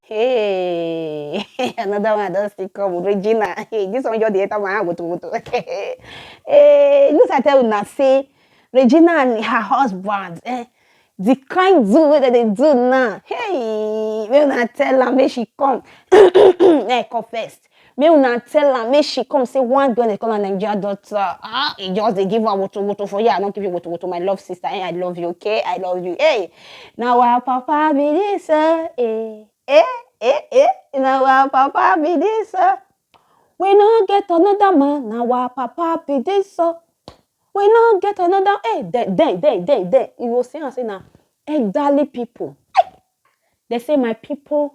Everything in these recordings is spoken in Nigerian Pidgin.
Hey, another one don still come, Regina. Hey, this one just dey enter my hand wutu wutu. hey, news I tell una say Regina and her husband, eh, the kind do wey dem dey do now. Hey, make una tell am make she come. Make I come first. make una tell am make she come say one girl dey call her Nigeria daughter ah e just dey give am woto woto for here I no give you woto woto my love sister eh I love you okay I love you hey na our papa be this oh eh eh eh eh na our papa be this oh we no get another man na our papa be this oh we no get another hey then then then then then you go see am say na elderly people they say my people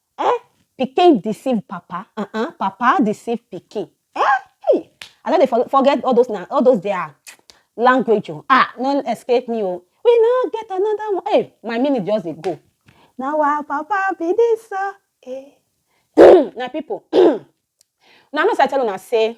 Eh? Pikin deceive papa, uh-uh, papa deceive pikin. Eh? Hey, I don't for, forget all those now, all those there language. Oh. Ah, no escape me. Oh. We now get another one. Hey, my minute just dey go. Now our papa be this. Uh, eh. now people, now I know say I tell una say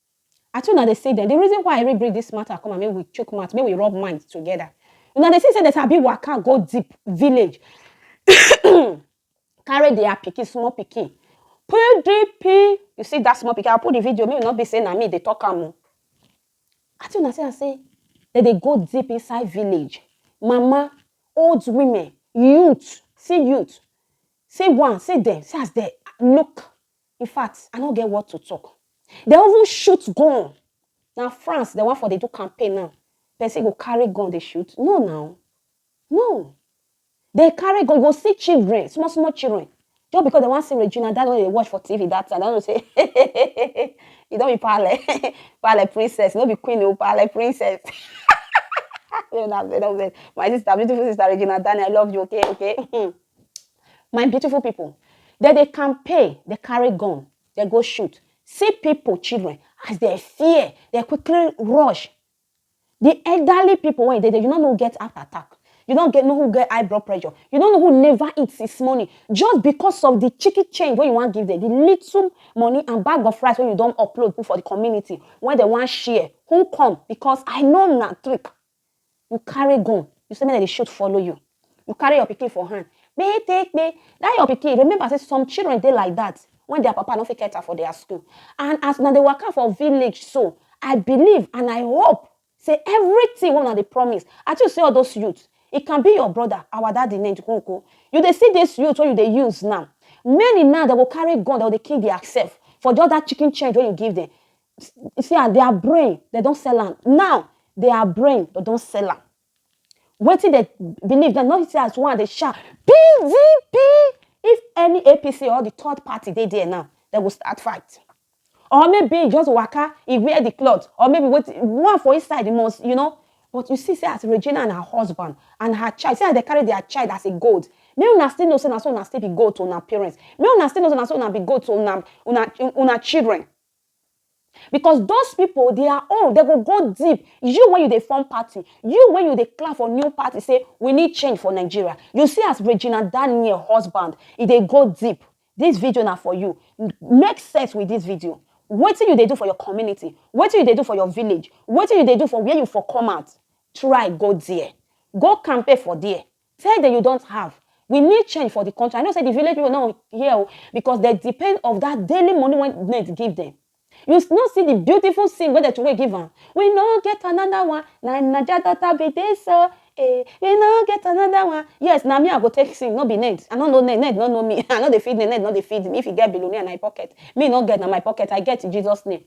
Ati una dey see dem, the reason why I even bring this matter come and make we chook mouth, make we rub mind together. Una dey see say dem sabi waka go deep village carry their pikin, small pikin. PDP, you see that small pikin, I'll put the video, make it not be say na me dey talk am o. Ati una see am say dem dey go deep inside village. Mama, old women, youth, see youth, see one, see dem, see as dem look In fact, I no get what to talk. Dem even shoot gun. Na France dem wan for dey do campaign now. Person go carry gun dey shoot? No now. No. Dem carry gun, you go see children, small small children. Just because dem wan see Regina Daniel wey dey watch for TV that time, dem know say e don be pale, pale princess, no be queen o, pale princess. Una vex, una vex. My sister, beautiful sister Regina Daniel, I love you, okay, okay. My beautiful people, dem dey campaign, dem carry gun, dem go shoot. See people, children, as dem fear, dem quickly rush. The elderly people wey dey there, you no know who get heart attack. You no get know who get high blood pressure. You no know who never eat since morning just because of the chicken change wey you wan give them, the little money and bag of rice wey you don upload put for the community wey dem wan share. Who come? Because I know na trick you carry gun you say make dem dey shoot follow you you carry your pikin for hand pay take pay that your pikin remember say some children dey like that when their papa no fit cater for their school and as una dey waka for village so i believe and i hope say everything wey una dey promise i too see all those youth e can be your brother our daddy named Koko you dey see this youth wey you dey use now many now dem go carry gun dem go dey kill their self for just that chicken change wey you give them see am their brain they don't sell am now their brain they don't sell am wetin they believe dem no see as one dey shout pdp if any apc or the third party they there now they will start fight or maybe e just waka e wear the cloth or maybe wait one for inside the most you know but you see say as regina and her husband and her child see as they carry their child as a gold make una still know say na so una still be gold to una parents make una still know say na so una be gold to una una una children because those people they are own they go go deep you when you dey form party you when you dey clap for new party say we need change for nigeria you see as regina daniel husband e dey go deep this video na for you make sense with this video wetin you dey do for your community wetin you dey do for your village wetin you dey do for where you for come out try go there go campaign for there Tell dem you don't have. We need change for the country. I know say the village people no hear o because they depend of that daily money wey government give them. You no see the beautiful scene wey dem throway give am. We no get another one. Na im Naija daughter be this o. Eh, we no get another one. Yes, na me I go take sing, no be Ned. I no know Ned, Ned no know me. I no dey feed Ned, Ned no dey feed me. If you get billionaire na im pocket. Me no get na my pocket. I get in Jesus name.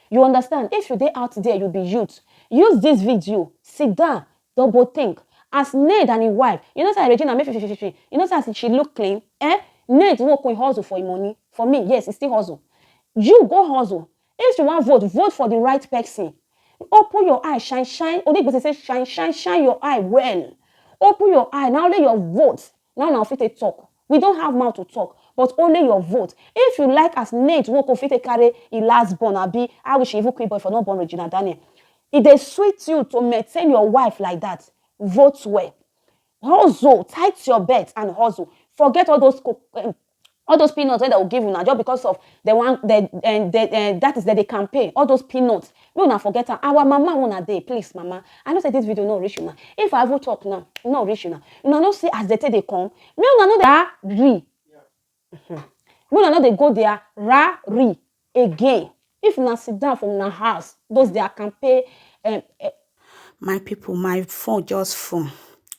You understand? If you dey out there, you be youth, use this video, sit down, double think. As Ned and his wife, you know say Regina make fifififi, you know say as she look clean, eh? Ned work with hustle for him money. For me, yes, he still hustle. You go hustle. If you want vote, vote for the right person. Open your eye, shine, shine. Only person say shine, shine, shine your eye well. Open your eye. Now only your vote Now na fit take talk. We don have mouth to talk but only your vote. If you like as Nate Nwoko fit take carry e last born abi I wish even Queenboy for no born Regina Daniel. E dey sweet you to maintain your wife like that, vote well. Hustle, tight your belt and hustle. Forget all those all those peanuts wey dem go give una just because of dem wan dem um, dem um, that is dem dey campaign all those peanuts make una forget am our mama una dey please mama i know say this video no reach una if i even talk now e no reach una una no see as dem take dey come make una no dey ra ri make una no dey go there ra ri again if una sit down for una house those their campaign um, uh, my people my phone just full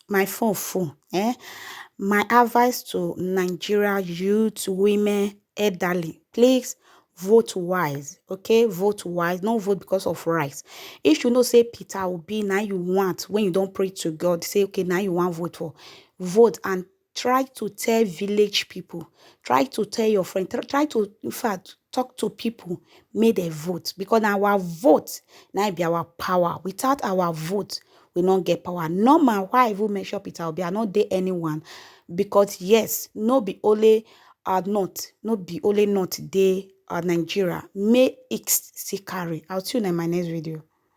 my phone full eh my advice to nigeria youth women elderly please vote wise okay vote wise no vote because of rice if you know say peter obi now you want when you don't pray to god say okay now you want vote for vote and try to tell village people try to tell your friend try to in fact talk to people make dem vote because na our vote na be our power without our vote we no get power normal why i even mention peter obi i no dey anyone because yes no be only our north no be only north dey our nigeria make it still carry i'll see you in my next video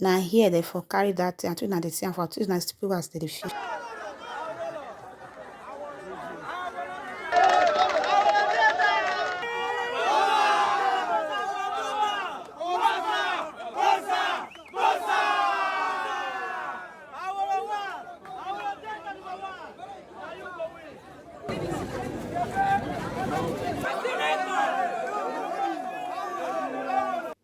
na here dem for carry that thing and una dey see am for una see people as dem dey feel.